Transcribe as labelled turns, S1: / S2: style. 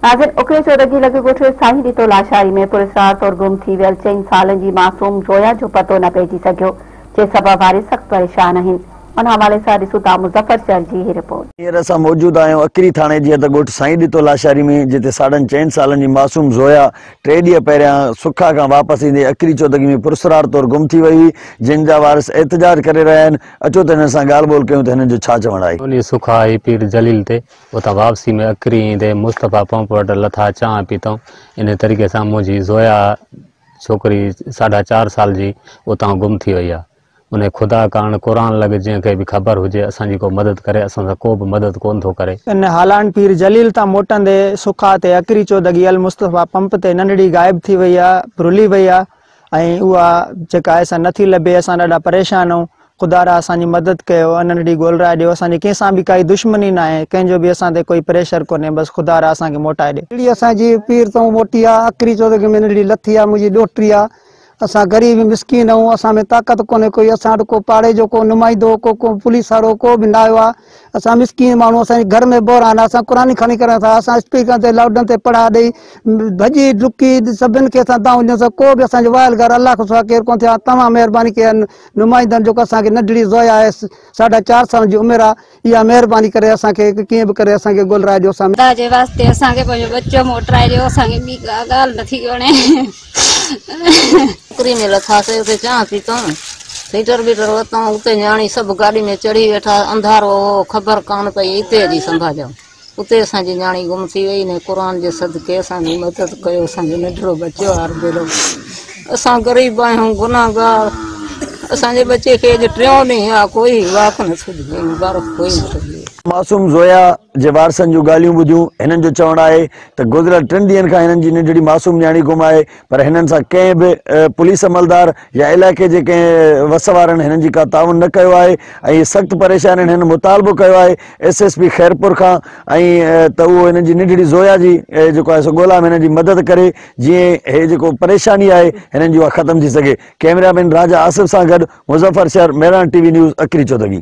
S1: ناظرين! اڪري جو رڳي لڳ ڳوٺ سائين ڏتو لاشاري ۾ پراسرار طور گم ٿي ويل چئن سالن جي معصوم زويا جو پتو نه پئجي سگهيو، جنهن سبب وارث سخت پريشان آهن. ان حوالي سان ڏسون ٿا مظفر چهر جي هي رپورٽ. هينئر اسان موجود آهيون
S2: اڪري ٿاڻي جي حد ڳوٺ سائين ڏتو لاشاري ۾ جتي ساڍن چئن سالن جي معصوم زويا ٽي ڏينهن پهريان سکا کان واپس ايندي اڪري چودڳي ۾ پراسرار طور گم ٿي وئي هئي، جنهن جا وارث احتجاج ڪري رهيا آهن، اچو ته هنن سان ڳالهه ٻولهه ڪيون ته هنن جو ڇا چوڻ آهي. ٻني سکا ۽ پير
S3: جليل تي اتان واپسيء ۾ اڪري ايندي مصطفيٰ پمپ وٽ لٿا، چانهه پيتائون. انهيء طريقي سان منهنجي زويا ڇوڪري ساڍا چار سال جي اتان گم ٿي ويئي آ. انهيء خدا ڪارڻ قرآن لڳ جنهن کي به خبر هجي اسان جي ڪو مدد ڪري، اسان سان ڪو به مدد ڪونه ٿو ڪري. ان هالان پير
S4: جليل تان موٽندي سکا تي اڪري چودڳيل مصطفيٰ پمپ تي ننڍڙي غائب ٿي ويئي آ، رلي ويئي آ. ۽ اها جيڪا آهي سا نه ٿي لڀي، اسان ڏاڍا پريشان آهيون، خدا را اسان جي مدد ڪيو، انهن ڏي گول راء ڏيو، اسان جي ڪنهن سان به ڪائي دشمني ناهي، ڪنهن جو به اسان تي ڪوئي پريشر ڪونهي، بس خدا را اسان کي موٽائي ڏي. ڙي اسان جي پير
S5: تئون موٽي آ، اڪري چوڌڪي ۾ ننڍڙي لٿي آ، منهنجي ڏوهٽڙي آ، اسان غريب ۽ مسڪين آهيون، اسان ۾ طاقت ڪونهي ڪوئي، اسان وٽ ڪو پاڙي جو ڪو نمائندو، ڪو ڪو پوليس وارو ڪو به نه آيو آ، اسان مسڪين ماڻهو اسان جي گهر ۾ بحران آهي اسان قرآن کڻي ڪريون ٿا اسان اسپيڪرن تي لائوڊن تي پڙها ڏئي ڀڄي ڊڪي سڀن کي اسان تان وڃون ٿا ڪو به اسان جو وائل گهر الله کان سوا ڪير ڪون ٿيو توهان مهرباني ڪئي نمائندن جو اسان کي ننڍڙي زويا آهي ساڍا چار سالن جي عمر آهي اها مهرباني ڪري اسان کي ڪيئن به ڪري اسان کي گولرائجو اسان خدا جي واسطي اسان کي پنهنجو ٻچو موٽرائجو اسان
S6: کي ٻي ڪا ڳالهه نٿي وڻي ٽڪري
S7: ۾ لٿاسي، اتي چانهه پيتائون، هيٽر بيٽر ورتائون، اتي نياڻي سڀ گاڏي ۾ چڙهي ويٺا، انڌارو هو، خبر ڪانه پئي اتي جي سنڀاڄائون، اتي اسان جي نياڻي گم ٿي وئي، انهي قرآن جي صدقي اسان جي مدد ڪيو، اسان جو ننڍڙو ٻچو آهي بيلو، اسان غريب آهيون، گناهگار، اسان جي ٻچي کي اڄ ٽيون ڏينهن آ، ڪوئي واڪ نه ٿو ڏئي، مبارڪ ڪوئي نه ٿو ڏئي. معصوم زويا
S2: جي وارثن جون ڳالهيون ٻڌيون، هنن جو چوڻ آهي ته گذريل ٽن ڏينهن کان هنن جي ننڍڙي معصوم نياڻي گم آهي پر هنن سان ڪنهن به پوليس عملدار يا علائقي جي ڪنهن وس وارن هنن جي ڪا تعاون نه ڪيو آهي ۽ سخت پريشان آهن هنن مطالبو ڪيو آهي ايس ايس پي خيرپور کان ۽ ته اهو هنن جي ننڍڙي زويا جي جيڪو آهي سو ڳولا ۾ هنن جي مدد ڪري جيئن هي جيڪو پريشاني آهي هنن جي اها ختم ٿي سگهي ڪيمرا مين راجا آصف سان گڏ Muzaffar Shar Mehran TV news اکري چودڳي.